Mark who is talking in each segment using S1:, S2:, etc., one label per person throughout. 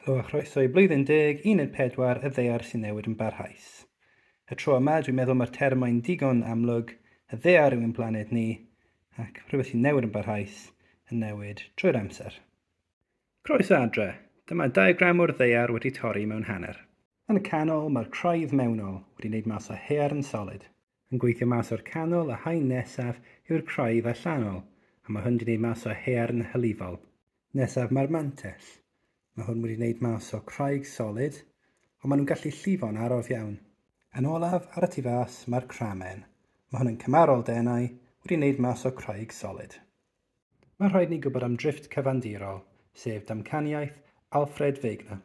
S1: Helo a chroeso i Blwyddyn Deg Uned Pedwar y Ddaear sy'n newid yn barhaus. Y tro yma, dwi'n meddwl mae'r term mae'n digon amlwg, y ddaear yw ein planed ni, ac rhywbeth sy'n newid yn barhaus, yn newid trwy'r amser. Croeso adre! Dyma diagram o'r ddaear wedi torri mewn hanner. Yn y canol, mae'r craidd mewnol wedi wneud mas o haearn solid. Yn gweithio mas o'r canol, y haen nesaf yw'r craidd allanol, a mae hwn wedi wneud mas o haearn hylifol. Nesaf mae'r mantell. Mae hwn wedi wneud mas o craig solid, ond maen nhw'n gallu llifo'n araf iawn. Yn olaf, ar y tu fas, mae'r cramen. Mae hwn yn cymarol denau, wedi wneud mas o craig solid. Mae rhaid ni gwybod am drifft cyfandirol, sef damcaniaeth Alfred Wegener.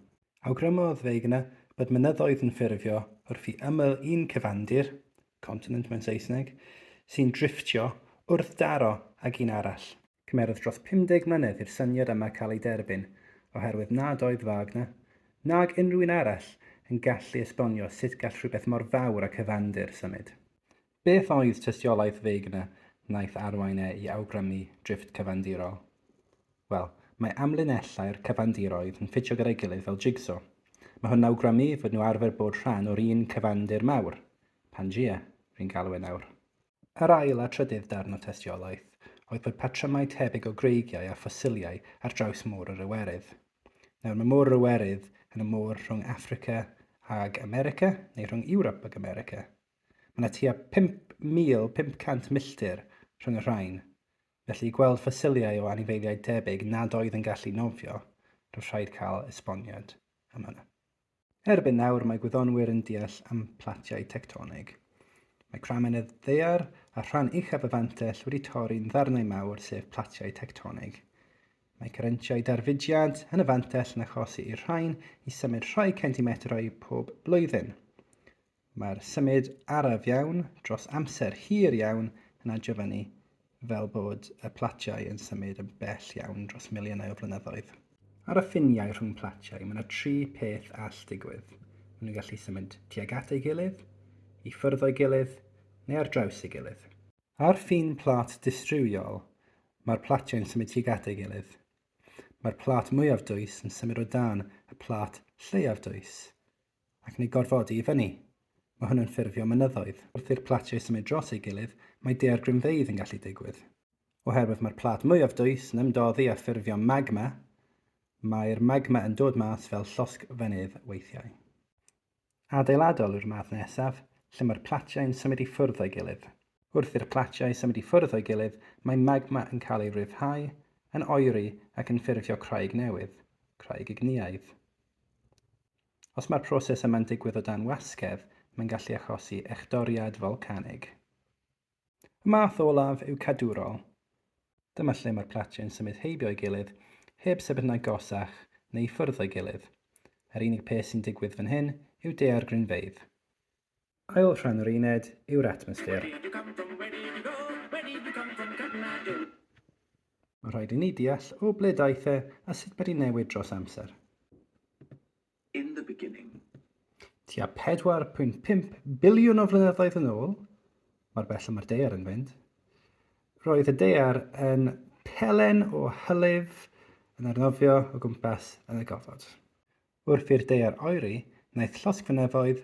S1: Awgrymodd Wegener bod mynyddoedd yn ffurfio wrth i ymyl un cyfandir, continent mewn Saesneg, sy'n drifftio, wrthdaro ag un arall. Cymerodd dros 50 mlynedd i'r syniad yma cael ei derbyn, oherwydd nad oedd Wagner, nag unrhyw un arall, yn gallu esbonio sut gall rhywbeth mor fawr a cyfandir symud. Beth oedd tystiolaeth Wegener wnaeth arwain e i awgrymu drifft cyfandirol? Wel, mae amlinellau'r cyfandiroedd yn ffitio gyda'i gilydd fel jigso. Mae hwn yn awgrymu fod nhw arfer bod rhan o'r un cyfandir mawr, Pangea, rwy'n galw e nawr. Yr ail a trydydd darn o tystiolaeth oedd bod patrymau tebyg o greigiau a ffosiliau ar draws Môr yr Iwerydd. Nawr, mae Môr yr Iwerydd yn y môr rhwng Affrica ag America, neu rhwng Ewrop ag America. Mae yna tua 5,500 milltir rhwng y rhain, felly i gweld ffosiliau o anifeiliaid debyg nad oedd yn gallu nofio, roedd rhaid cael esboniad am hynny. Erbyn nawr mae gwyddonwyr yn deall am platiau tectonig. Mae cramenedd ddaear a rhan uchaf y fantell wedi torri'n ddarnau mawr sef platiau tectonig. Mae cyrrentiau darfudiad yn y fantell yn achosi i'r rhain i symud rhai centimetrau pob blwyddyn. Mae'r symud araf iawn dros amser hir iawn yn adiofannu fel bod y platiau yn symud yn bell iawn dros miliynau o flynyddoedd. Ar y ffiniau rhwng platiau, mae yna tri pheth all digwydd. Maen nhw'n gallu symud tuag at ei gilydd, i ffwrdd o'i gilydd, neu ar draws ei gilydd. Ar ffin plât distriwiol, mae'r platiau'n symud tuag at ei gilydd. Mae'r plât mwyaf dwys yn symud o dan y plât lleiaf dwys. ac yn ei gorfodi i fyny. Mae hwn yn ffurfio mynyddoedd. Wrth i'r platiau symud dros ei gilydd, mae daeargrynfeydd yn gallu digwydd. Oherwydd mae'r plât mwyaf dwys yn ymdoddi a ffurfio magma, mae'r magma yn dod mas fel llosg fynydd weithiau. Adeiladol yw'r math nesaf, lle mae'r platiau yn symud i ffwrdd o'i gilydd. Wrth i'r platiau symud i ffwrdd o'i gilydd, mae magma yn cael ei ryddhau, yn oeri ac yn ffurfio craig newydd, craig ignïaidd. Os mae'r proses yma'n digwydd o dan wasgedd, mae'n gallu achosi echdoriad folcanig. Y math olaf yw cadwrol. Dyma lle mae'r platiau'n symud heibio ei gilydd, heb sefydlu'n agosach neu i ffwrdd o'i gilydd. Yr unig peth sy'n digwydd fan hyn yw daeargrynfeydd. Ail rhan yr uned yw'r atmosffer. Mae rhaid i ni deall o ble daeth e a sut mae wedi newid dros amser. In the beginning. Tua 4.5 biliwn o flynyddoedd yn ôl, mae'r bell y mae'r dear yn fynd, roedd y dear yn pelen o hylif yn arnofio o gwmpas yn y gofod. Wrth i'r daear oeri, wnaeth llosgfynyddoedd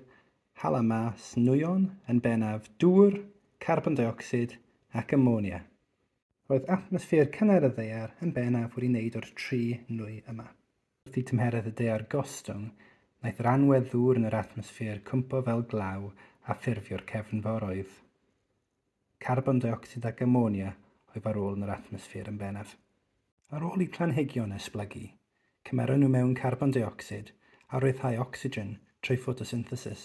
S1: hala mas nwyon, yn bennaf dŵr, carbon deuocsid ac amonia. Roedd atmosffer cynnar y ddaear yn bennaf wedi wneud o'r tri nwy yma. Wrth i tymheredd y daear gostwng, wnaeth yr anwedd ddŵr yn yr atmosffer cwympo fel glaw a ffurfio'r cefnforoedd. carbon deuocsid ac amonia o'i farwol yn yr atmosffer yn bennaf. Ar ôl i planhigion esblygu, cymeron nhw mewn carbon deuocsid a rhyddhau ocsigen trwy ffotosynthesis.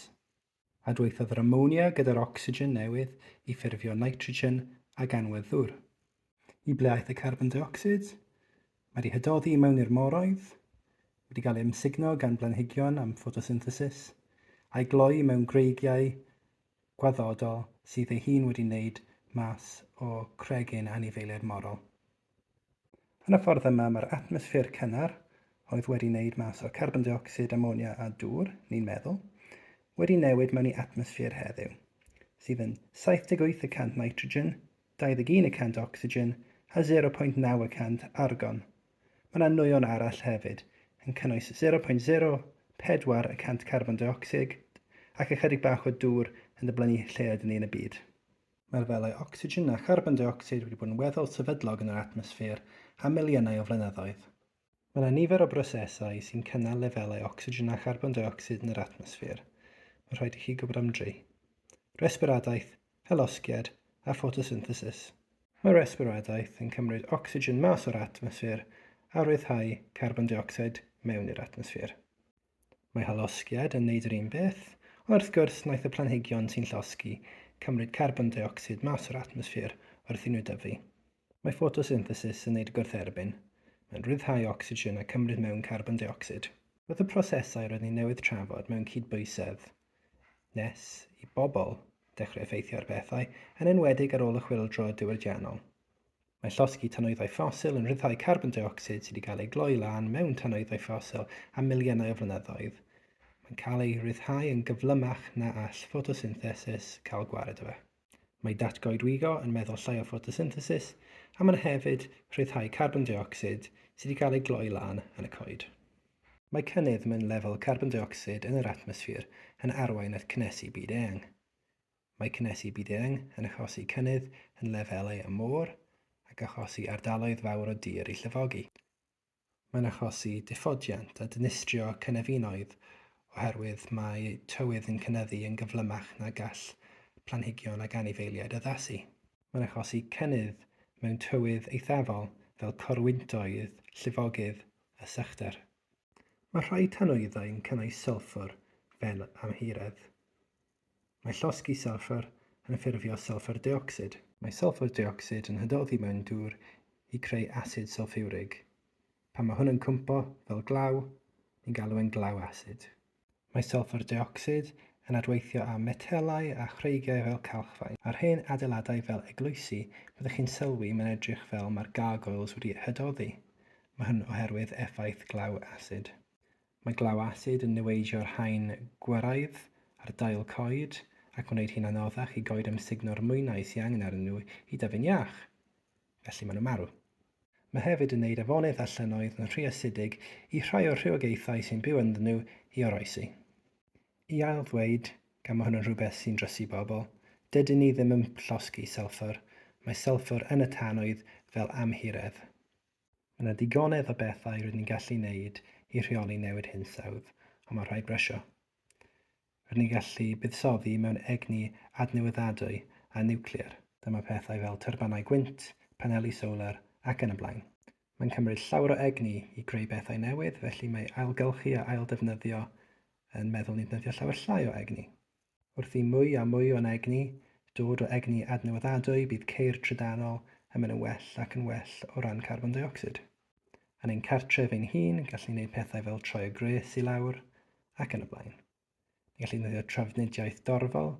S1: Adweithiodd yr amonia gyda'r ocsigen newydd i ffurfio nitrogen a ganwedd ddŵr. I ble aeth y carbon deuocsid? Mae wedi hydoddi i mewn i'r moroedd, wedi cael ei amsugno gan blanhigion am ffotosynthesis, a'i gloi mewn greigiau gwaddodol sydd ei hun wedi wneud mas o Craig ein anifeiliaid morol. Yn y ffordd yma mae'r atmosffer cynnar, oedd wedi wneud mas o carbon deuocsid, amonia a dŵr, ni'n meddwl, wedi newid mewn i atmosffer heddiw, sydd yn 78 y cant nitrogen, 21 y cant ocsigen a 0.9 y cant argon Mae yna nwyon arall hefyd, yn cynnwys 0.04 y cant carbon deuocsid ac ychydig bach o dŵr yn diblynu lle ydyn ni yn y byd. Mae lefelau ocsigen a charbon deuocsid wedi bod yn weddol sefydlog yn yr atmosffer am miliynau o flynyddoedd. Mae yna nifer o brosesau sy'n cynnal lefelau ocsigen a charbon deuocsid yn yr atmosffer, mae'n rhaid i chi gwybod am dri. Resbiradaeth, hylosgiad a ffotosynthesis. Mae resbiradaeth yn cymryd ocsigen mas o'r atmosffer a rhyddhau carbon deuocsid mewn i'r atmosffer. Mae hylosgiad yn neud yr un beth, ond wrth gwrs naeth y planhigion sy'n llosgi cymryd carbon deuocsid mas o'r atmosffer wrth i nhw dyfu. Mae ffotosynthesis yn neud gwrth-erbyn, mae'n rhyddhau ocsigen a cymryd mewn carbon deuocsid. Wrth y prosesau roedd ni newydd trafod mewn cydbwysedd, nes i bobl dechrau effeithio ar bethau, yn enwedig ar ôl y chwyldro diwydiannol. Mae llosgi tanwyddau ffosil yn rhyddhau carbon deuocsid sydd wedi cael ei gloi lan mewn tanwyddau ffosil am miliynau o flynyddoedd. Mae'n cael ei ryddhau yn gyflymach na all ffotosynthesis cael gwared o fe. Mae datgoedwigo yn meddwl llai o ffotosynthesis a mae'n hefyd rhyddhau carbon deuocsid sydd wedi cael ei gloi lan yn y coed. Mae cynnydd mewn lefel carbon deuocsid yn yr atmosffer yn arwain at cynnesu byd-eang. Mae cynnesu byd-eang yn achosi cynnydd yn lefelau y môr ac achosi ardaloedd fawr o dir i llifogi. Mae'n achosi diffodiant a dinistrio cynefinoedd oherwydd mae tywydd yn cynyddu yn gyflymach na gall planhigion ac anifeiliaid addasu. Mae'n achosi cynnydd mewn tywydd eithafol fel corwyntoedd, llifogydd a sychder. Mae rhai tanwyddau'n cynnwys sylffwr fel amhiredd. Mae llosgi sylffr yn ffurfio sylffr deuocsid. Mae sylffr deuocsid yn hydoddi mewn dŵr i creu asid sylffiwrig. Pan mae hwn yn cwympo fel glaw, ni'n galw e'n glaw asid. Mae sylffr deuocsid yn adweithio â metelau a chreigiau fel calchfaen. Ar hen adeiladau fel eglwysi, byddwch chi'n sylwi mae'n edrych fel mae'r gargoyles wedi hydoddi. Mae hwn oherwydd effaith glaw asid. Mae glaw asid yn niweidio'r haen gwyraidd ar dail coed ac yn gwneud hi'n anoddach i goed amsugno'r mwynau sydd angen arnyn nhw i dyfu'n iach, felly maen nhw'n marw. Mae hefyd yn gwneud afonydd a llynnoedd yn rhy asidig i rhai o'r rhywogaethau sy'n byw ynddyn nhw i oroesi. I ail-ddweud, gan mae hwn yn rhywbeth sy'n drysu bobl, dydyn ni ddim yn llosgi sylffwr, mae sylffwr yn y tanwydd fel amhiredd. Mae yna digonedd o bethau rydyn ni'n gallu wneud i rheoli newid hinsawdd, ond mae'n rhaid brysio. Rydyn ni'n gallu buddsoddi mewn egni adnewyddadwy a niwclear. Dyma pethau fel tyrbynau gwynt, paneli solar ac yn y blaen. Mae'n cymryd llawer o egni i greu pethau newydd, felly mae ailgylchu a ailddefnyddio yn meddwl ni'n defnyddio llawer llai o egni. Wrth i mwy a mwy o'n egni dod o egni adnewyddadwy bydd ceir trydanol yn mynd yn well ac yn well o ran carbon deuocsid. Yn ein cartref ein hun, gallwn ni wneud pethau fel troi y gwres i lawr, ac yn y blaen. Ni gallwn ddefnyddio trafnidiaeth dorfol,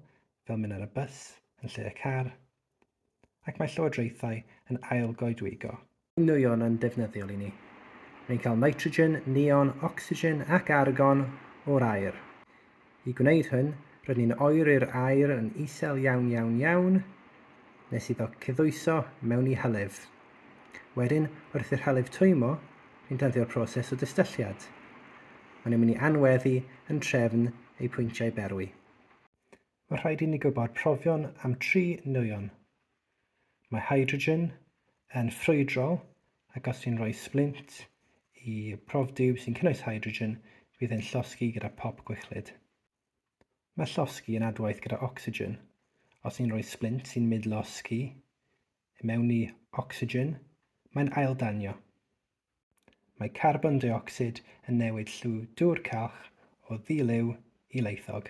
S1: fel mynd ar y bws, yn lle y car, ac mae llywodraethau yn ail-goedwigo. Nwyon yn ddefnyddiol i ni. Mae'n cael nitrogen, neon, ocsigen ac argon o'r aer. I gwneud hyn, rydyn ni'n oeri'r aer yn isel iawn iawn iawn nes iddo cyddwyso mewn i hylif. Wedyn, wrth i'r hylif twymo, ni'n defnyddio'r proses o dystylliad. Maen nhw'n mynd i anweddu yn trefn eu pwyntiau berwi. Mae rhaid i ni gwybod profion am tri nwyon. Mae hydrogen yn ffrwydrol ac os ti'n rhoi splint i profdiw sy'n cynnwys hydrogen, bydd e'n llosgi gyda pop gwichlyd. Mae llosgi yn adwaith gyda ocsigen. Os ti'n rhoi splint sy'n mynd losgi i mewn i ocsigen, mae'n aildanio. Mae carbon deuocsid yn newid lliw dŵr calch o ddilyw i laethog.